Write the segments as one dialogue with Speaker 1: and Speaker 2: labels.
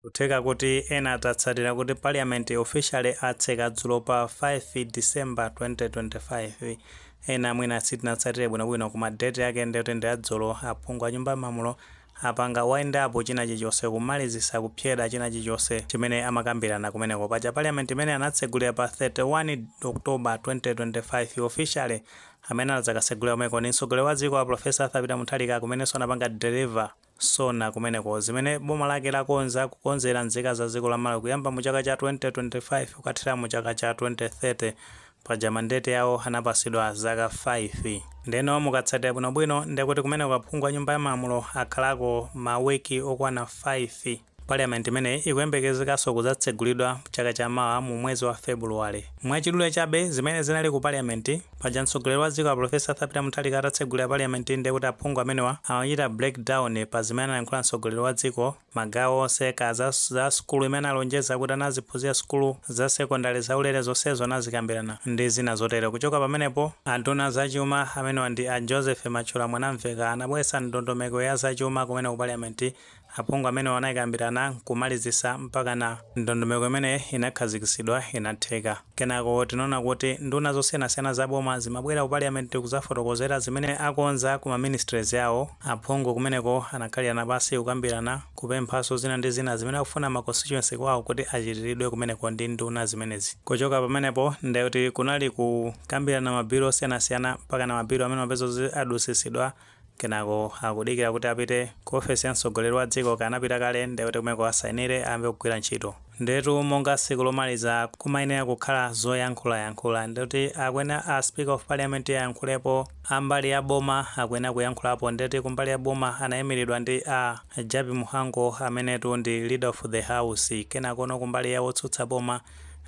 Speaker 1: Kutheka kuti ena atatsatira kuti parliament officially atseka dzulo pa 5 December 2025. Ena mwina sitinatsatire bwinobwino koma date yake nde yoti ndi ya dzulo aphungu a nyumba ya malamulo apanga wind up chinachilichonse kumalizisa kupsyeda chinachilichonse chimene amakambirana kumeneko. Paja parliament imene anatsegulira pa 31 October 2025 officially amene anadzakasegulira komweko ndi mtsogoleri wa dziko a Prof Arthur Peter Mutharika kumenenso anapanga deliver Sona kumeneko. Zimene boma lake lakonza kukonzera nzika za dziko la Malawi kuyamba mu chaka cha 2025 kukathera mu chaka cha 2030. Paja mandate yawo anapasidwa zaka 5. Ndeno mukatsatira bwinobwino ndekuti kumeneko aphungu a nyumba ya malamulo akhalako ma week okwana 5. Parliament imeneyi ikuyembekezekanso kudzatsegulidwa chaka cha mawa mu mwezi wa February. Mwachidule chabe zimene zinali ku Parliament, paja mtsogoleri wa dziko a Prof Arthur Peter Mutharika atatsegulira Parliament ndiye kuti aphungu amenewa amachita break down pa zimene analankhula mtsogoleri wa dziko magawo onse, kaya za za sukulu imene analonjeza kuti ana aziphunzira sukulu za secondary zaulere zonsezo anazikambirana ndi zina zotero. Kuchoka pamenepo, anduna za chuma amenewa ndi a Joseph Mathyola Mwanamvekha anabweretsa ndondomeko ya za chuma kumene ku Parliament Aphungu amenewa anaikambirana n'kumalizitsa mpakana ndondomeko imeneyi inakhazikitsidwa inatheka. Kenako tinaona kuti nduna zosiyanasiyana za boma zimabwera ku Parliament kudzafotokozera zimene akonza ku ma ministries awo. Aphungu kumeneko anakhalirana pansi kukambirana, kupemphanso zina ndi zina zimene akufuna ma constituency kwawo kuti achitiridwe kumeneko ndi nduna zimenezi. Kuchoka pamenepo ndiye kuti kunali kukambirana ma bill osiyanasiyana mpakana ma bill amene amapeza kuti adutsitsidwa kenako akudikira kuti apite ku ofesi ya mtsogoleri wa dziko kaya anapita kale ndiye kuti kumeko asainire ayambe kugwira ntchito ndetu monga tsiku lomaliza kumayenera kukhala zoyankhulayankhula ndikuti akuyenera a speaker of parliament ayankhulepo ambali ya boma akuyenera kuyankhulapo ndikuti kumbali ya boma anayimiridwa ndi a jappie mhango amenetu ndi leader of the house kenakono kumbali ya otsutsa boma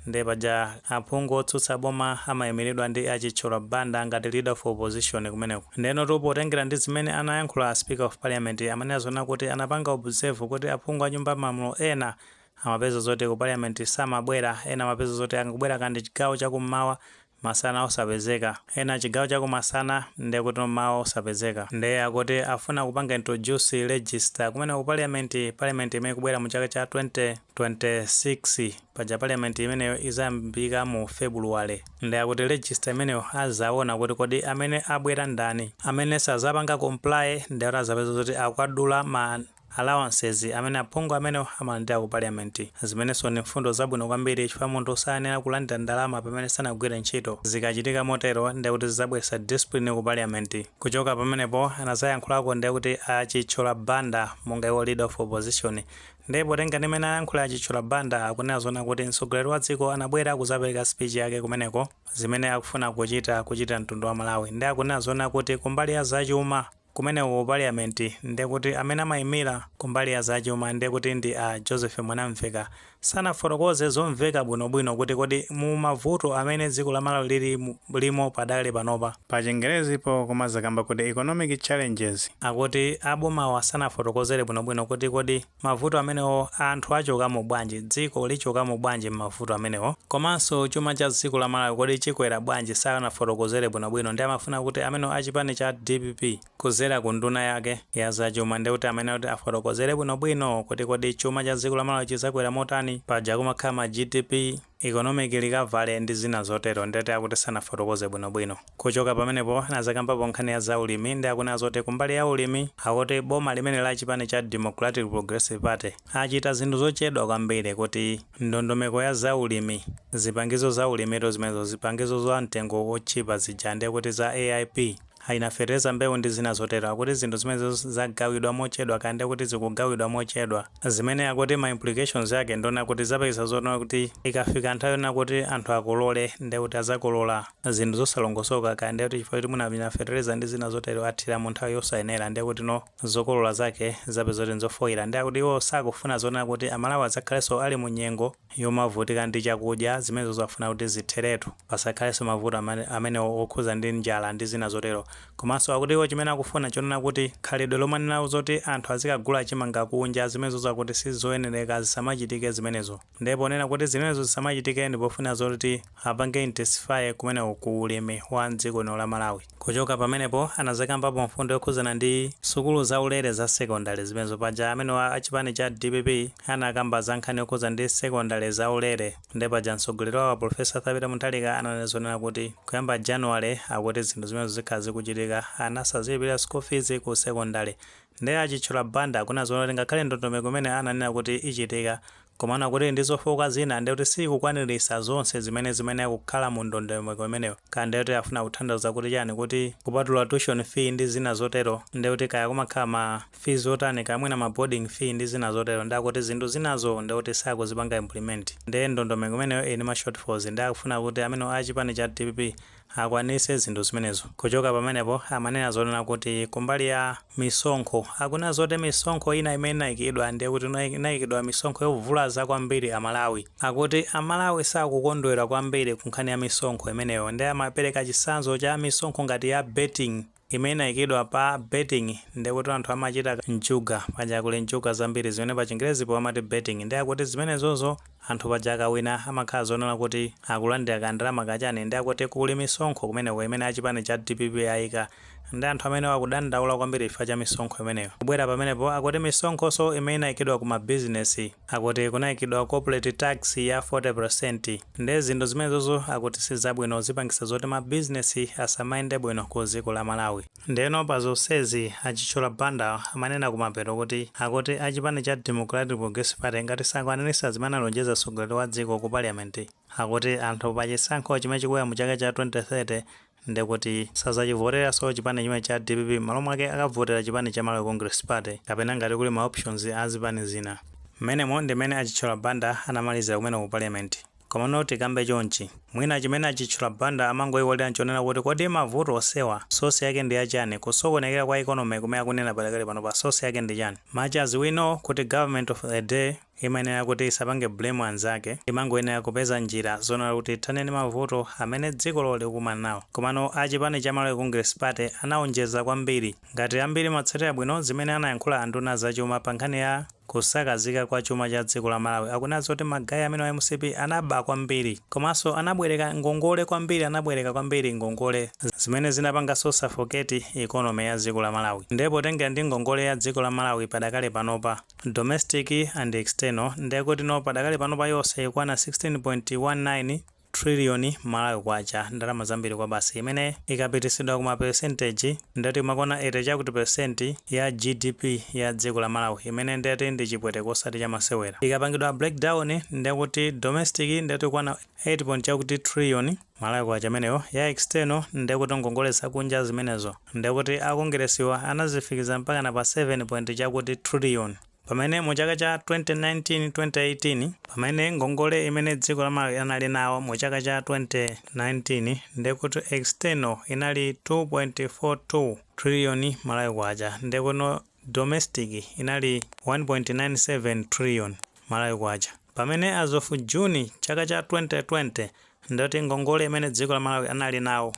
Speaker 1: Ndiye paja aphungu otsutsa boma amaimiridwa ndi a Chithyola Banda ngati leader of opposition kumeneko. Ndiyenotu potengera ndi zimene anayankhula a Speaker of Parliament amanena zoona kuti anapanga observe kuti aphungu a Nyumba ya Malamulo ena amapeza zoti ku Parliament samabwera, ena amapeza zoti angobwerako ndi chigawo cha kummawa masana osapezeka ena chigawo chakumasana ndekutino mmawa osapezeka nde akuti afuna kupanga introduce register kumeneko ku parliament, parliament imene ikubwera mu chaka cha 2026 paja parliament imeneyo izayambika mu February nde akuti register imeneyo azawona kuti kodi amene abwera ndani amene sazapanga comply nde azapeza zoti akwadula ma allowances amene aphungu amenewo amalandira ku parliament, zimenenso ndi mfundo zabwino kwambiri chifukwa munthu sayenera kulandira ndalama pamene sanagwire ntchito. Zikachitika motero ndiye kuti zidzabweretsa discipline ku parliament. Kuchoka pamenepo anadzayankhulako ndiye kuti a Chithyola Banda monga iwo leader of opposition. Ndiye potenga ndi mmene anayankhulira a Chithyola Banda akunena zoona kuti mtsogoleri wa dziko anabwera kudzapereka speech yake kumeneko zimene akufuna kuchita kuchitira mtundu wa Malawi. Ndiye akunena zoona kuti kumbali ya zachuma, kumeneko ku parliament nde kuti amene amaimira kumbali ya za chuma nde kuti ndi a Joseph Mwanamveka sanafotokoze zomveka bwino bwino kuti kodi mu mavuto amene dziko la Malawi lili limo padakali panopa pa chingerezi po timakakamba kuti economic challenges akuti abomawa sanafotokozere bwino bwino kuti kodi mavuto amenewo anthu achokamo bwanji, dziko lichokamo bwanji mmavuto amenewo, komanso chuma cha dziko la Malawi kodi chikwera bwanji sanafotokozere bwinobwino nde amafuna kuti amenewo a chipani cha dpp kudzera ku nduna yake ya za chuma nde kuti amayenera kuti afotokozere bwinobwino kuti kodi chuma cha dziko la Malawi chidzakwera motani paja kumakhala ma GDP economic recovery ndi zina zotero nde akuti sanafotokoze bwino bwino. Kuchoka pamenepo anazakambapo nkhani ya za ulimi nde akunena zoti kumbali ya ulimi akuti boma limene la chipani cha Democratic Progressive Party achita zinthu zochedwa kwambiri kuti ndondomeko ya za ulimi, zipangizo za ulimitu zimenezo zipangizo za mtengo otchipa zija nde kuti za AIP, amina fetereza mbewu ndi zina zotero akuti zinthu zimenezo zagawidwa mochedwa kaya ndi kuti zikugawidwa mochedwa zimene akuti ma implications ake ndonena kuti zipangitsa zonena kuti ikafika nthawi yonena kuti anthu akolole ndiye kuti azakolora zinthu zosalongosoka kaya ndiye kuti chifukwa choti mwina amina fetereza ndi zina zotero athira mu nthawi yosayenera ndiye kuti zokolora zake zapezeka kuti nzofoira ndiye akuti iwo sakufuna zonena kuti amalawi adzakhalenso ali mu nyengo yomavutika ndi chakudya, zimenezo zimafuna kuti zitheretu, pasakhalenso mavuto amenewo okhudza ndi njala ndi zina zotero. Komanso akuti iwo chimene akufuna nchonena kuti khalidwe lomanena zoti anthu azikagula chimanga kunja, zimenezo akuti si zoyenereka, zisamachitike zimenezo. Ndiye ponena kuti zimenezo zisamachitike ndi pofuna zoti apange intensify kumeneko ku ulimi wa m'dziko lino la Malawi. Kuchoka pamenepo anazakambapo mfundo yokhuzana ndi sukulu za ulere za secondary zimenezo paja amenewa a chipani cha dpp anakamba za nkhani yokhuzana ndi secondary za ulere nde paja mtsogoleri wawo a Prof Arthur Peter Mutharika ananena zonena kuti kuyamba January akuti zinthu zimenezo zikhala zikuchitika ana sazilipilira school fees ku secondary nde a Chithyola Banda akunena zonena kuti ngakhale ndondomeko imene ananena kuti ichitika Komano akuti ili ndi zofooka zina ndiye kuti siikukwanirisa zonse zimene zimayenera kukhala mu ndondomeko imeneyo kaya ndiye kuti afuna kuthandauza kuti chani kuti kupatula tuition fee ndi zina zotero ndiye kuti kaya kumakhala ma fees otani kaya mwina ma boarding fee ndi zina zotero ndiye akuti zinthu zinazo ndiye kuti sakuzipanga implement ndiye ndondomeko imeneyo ili ndi ma shortfalls ndiye akufuna kuti amenewa a chipani cha dpp akwanitse zinthu zimenezo. Kuchoka pamenepo, amanena zonena kuti kumbali ya misonkho, akunena zoti misonkho ina imene inaikidwa ndiye kuti inaikidwa misonkho yovulaza kwambiri a Malawi. Akuti a Malawi sakukondwera kwambiri kunkhani ya misonkho imeneyo nde amapereka chitsanzo cha misonkho ngati ya betting. imene inaikidwa pa betting ndekuti anthu amachita njuga paja kuli njuga zambiri zimene pa chingelezipo amati betting nde akuti zimenezozo anthu paja akawina amakhala zonena kuti akulandira ka ndalama kachani nde akuti kuli misonkho kumeneko imene a chipani cha dpp aika nde anthu amenewo akudandaula kwambiri chifukwa cha misonkho imeneyo kubwera pamenepo akuti misonkhonso imene inaikidwa ku ma business akuti kunaikidwa corporate tax ya 40% Nde zinthu zimenezozo akuti sizabwino zipangisa zoti ma business asamayende bwino ku ziko la malawi. Ndeno pa zonsezi a Chithyola Banda amanena kumapeto kuti akuti a chipani cha Democratic Progressive Party ngati sakwanilitsa zimene analonjeza mtsogoleri wa dziko ku parliament akuti anthu pa chisankho chimene chikuya mu chaka cha 2030 ndekuti sazachivoteranso chipani chimenechi cha dpp mmalo mwake akavotera chipani cha Malawi Congress Party kapena ngati kuli ma options a zipani zina. Mmenemo ndi mmene a Chithyola Banda anamalizira kumene ku Parliament. Komano tikambe chonchi, mwina chimene a Chithyola Banda amangoiwalira nchonena kuti kodi mavuto onsewa source yake ndi ya chani, kusokonekera kwa economy kumene akunena padakali panopa source yake ndi chani? Much as we know kuti government of a day, imayenera kuti isapange blame anzake, imangoyenera kupeza njira zonena kuti ithane ndi mavuto amene dzikolo likukumana nawo. Komano a chipani cha Malawi Congress Party anaonjeza kwambiri. Ngati ambiri mwatsatira bwino zimene anayankhula a nduna za chuma pa nkhani ya kusakazika kwa chuma cha dziko la Malawi, akunena zoti ma guy amenewa a mcp anaba kwambiri komanso anabwereka ngongole kwambiri anabwereka kwambiri ngongole zimene zinapanganso suffocate economy ya dziko la Malawi. Nde potengera ndi ngongole ya dziko la Malawi padakali panopa, Domestic and External, ndekuti no padakali pano pa yonse ikwana 16.19 trillion Malawi kwacha, ndalama zambiri kwabasi, imene ikapitisidwa kuma percentage ndeti imakwana 80 chakuti percent ya GDP ya dziko la Malawi, imene ndeti ndi chipweteke osati chamasewera. Ikapangidwa breakdown ndekuti domestic ndeti ikwana 8 point chakuti trillion, Malawi kwacha imeneyo ya external ndekuti ngongole zakunja zimenezo ndekuti akongeresiwa anazifikiza mpakana pa 7 point chakuti trillion pamene mu chaka cha 2019 2018 pamene ngongole imene dziko la Malawi anali nawo mu chaka cha 2019 ndekuti external inali 2.42 trillion Malawi kwacha ndekuti no domestic inali 1.97 trillion Malawi kwacha. Pamene as of June chaka cha 2020 ndati ngongole imene dziko la Malawi anali nawo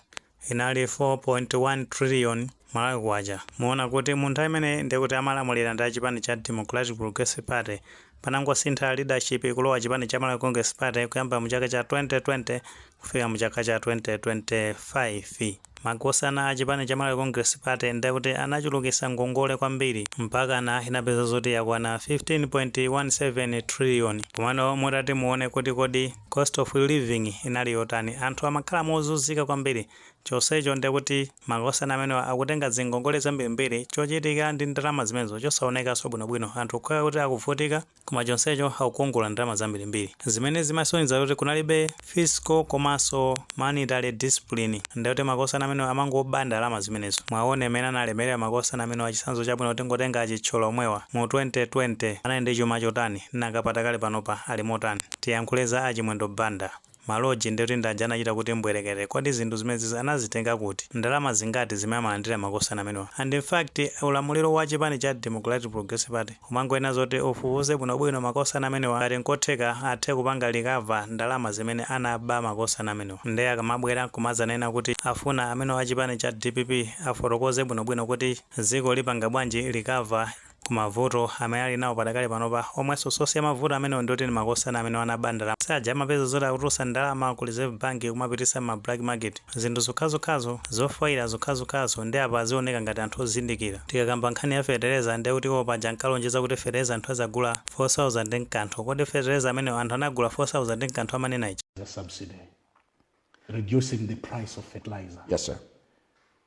Speaker 1: inali 4.1 trillion Malawi kwacha muona kuti mu nthawi imeneyi ndiye kuti amalamulira ndi a chipani cha Democratic Progressive Party panangosintha leadership kulowa chipani cha Malawi Congress Party kuyamba mu chaka cha 2020 kufika mu chaka cha 2025. Makosana a chipani cha Malawi Congress Party ndi akuti anachulukisa ngongole kwambiri mpakana inapeza zoti yakwana 15.17 trillion. Komano mutati muone kuti kodi cost of living inali yotani, anthu amakhala mozuzika kwambiri chonsecho ndi kuti makosana amenewa akutenga zingongole zambirimbiri chochitika ndi ndalama zimenezo chosaonekanso bwinobwino anthu kukhala kuti akuvutika Koma chonsecho akukongola ndalama zambirimbiri zimene zimasonyeza kuti kunalibe fiscal komanso monetary discipline ndekuti makosana amenewa amangoba ndalama zimenezo. Mwaona mmene analemerera makosana amenewa chitsanzo chabwino tingotenga a Chithyola omwewa mu 2020 anali ndi chuma chotani nanga padakali panopa ali motani? Tiyankhule za a Chimwendo Banda. Ma lodge nde kuti ndi aja anachita kuti mbwerekete. Kodi zinthu zimenezi anazitenga kuti? Ndalama zingati zimene amalandira makosana amenewa? And in fact, ulamuliro wa chipani cha Democratic Progressive Party umangoyenera zoti ufufuze bwinobwino makosana amenewa ngati nkotheka athe kupanga recover ndalama zimene anaba makosana amenewa. Nde akamabwera nkumadzanena kuti afuna amene wa chipani cha dpp afotokoze bwinobwino kuti dziko lipanga bwanji recover. Ku mavuto amene ali nawo padakali panopa omwenso source ya mavuto amenewo ndi oti ndi makosana amenewa anaba ndalama saja amapeza zoti akutulutsa ndalama ku reserve bank kumapititsa mma black market zinthu zokhazokhazo, zofoila zokhazokhazo nde apa azioneka ngati anthu ozindikira. Tikakamba nkhani ya fetereza nde kuti iwowo paja ankalonjeza kuti fetereza anthu azagula 4000 nakanthu kodi fetereza amenewo anthu anagula 4000 nakanthu amanena ija? The subsidy,
Speaker 2: reducing the price of fertilizer. Yes sir.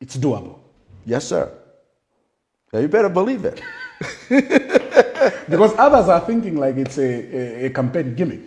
Speaker 2: It's doable. Yes,
Speaker 3: sir. Now you better believe it. because
Speaker 2: others are thinking like it's a, a, a campaign gimmick.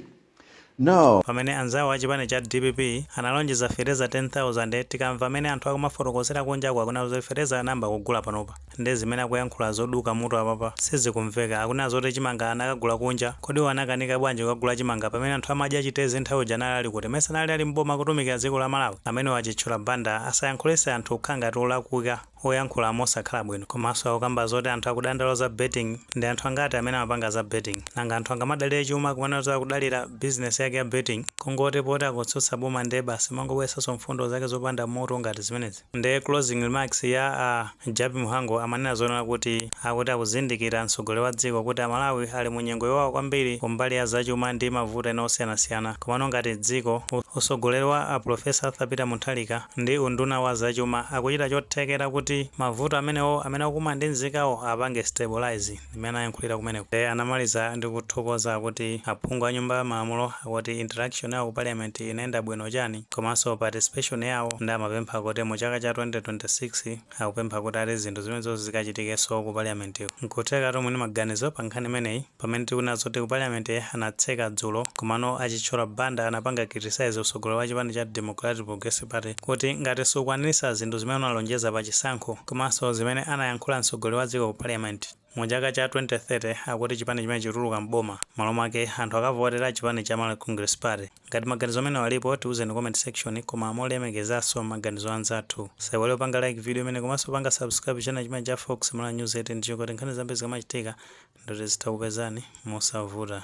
Speaker 3: No. pamene anzawo
Speaker 1: a chipani cha dpp analonjeza fetereza 10000 tikamva mmene anthu akumafotokozera kunjaku akunena zoti fetereza anayamba kugula panopa Nde zimene akuyankhula zoduka mutu apapa sizikumveka. Akunena zoti chimanga anakagula kunja. Kodi iwo anakanika bwanji kukagula chimanga pamene anthu amadya chitedze nthawi ija anali ali kuti? Mesa anali ali m'boma akutumikira dziko la Malawi? Amenewo a Chithyola Banda asayankhulitse anthu kukhala ngati olakwika, oyankhula mosakhala bwino. Komanso akukamba zoti anthu akudandaula za betting, ndi anthu angati amene amapanga za betting? Nanga anthu angamadalire chuma kumanena zoti akudalira business yake ya betting? Kungoti poti akutsutsa boma nde basi umangobweretsanso mfundo zake zopanda mutu ngati zimenezi. Nde closing remarks ya a Jappie Mhango amanena zoonala kuti akuti akuzindikira mtsogoleri wa dziko kuti a Malawi ali mu nyengo yowawa kwambiri ku mbali ya zachuma ndi mavuto ena osiyanasiyana komano ngati dziko utsogoleri wa a Professor Arthur Peter Mutharika ndi unduna wa zachuma akuchita chothekera kuti mavuto amenewo amene akukumana ndi nzikawo apange stabilise zimene anayankhulira kumeneko. Iye anamaliza ndi kuthokoza kuti aphungu a nyumba ya malamulo akuti interaction yawo ku parliament inayenda bwino chani komanso participation yawo nde amapempha kuti mu chaka cha 2026 akupempha kuti ati zinthu zimenezozi zikachitikenso ku parliamentiko. Nkutheka inu muli ndi maganizo pa nkhani imeneyi pamene tikunena zoti ku parliament anatseka dzulo komano a Chithyola Banda anapanga criticise utsogoleri wa chipani cha Democratic Progressive Party kuti ngati sukwaniritsa zinthu zimene unalonjeza pa chisankho komanso zimene anayankhula mtsogoleri wa dziko ku parliament mu chaka cha 2030 akuti chipani chimenechi chituluka m'boma m'malo mwake anthu akavotera chipani cha Malawi Congress Party. Ngati maganizo amenewa alipo tiuzeni mu comment section koma molemekezanso maganizo anzathu. Musaiwale kupanga like video imeneyi komanso kupanga subscribe channel chimenechi cha Fox Malawi News 8 ndi cholinga choti nkhani zambiri zikamachitika ndithu zitha kukupezani mosavuta.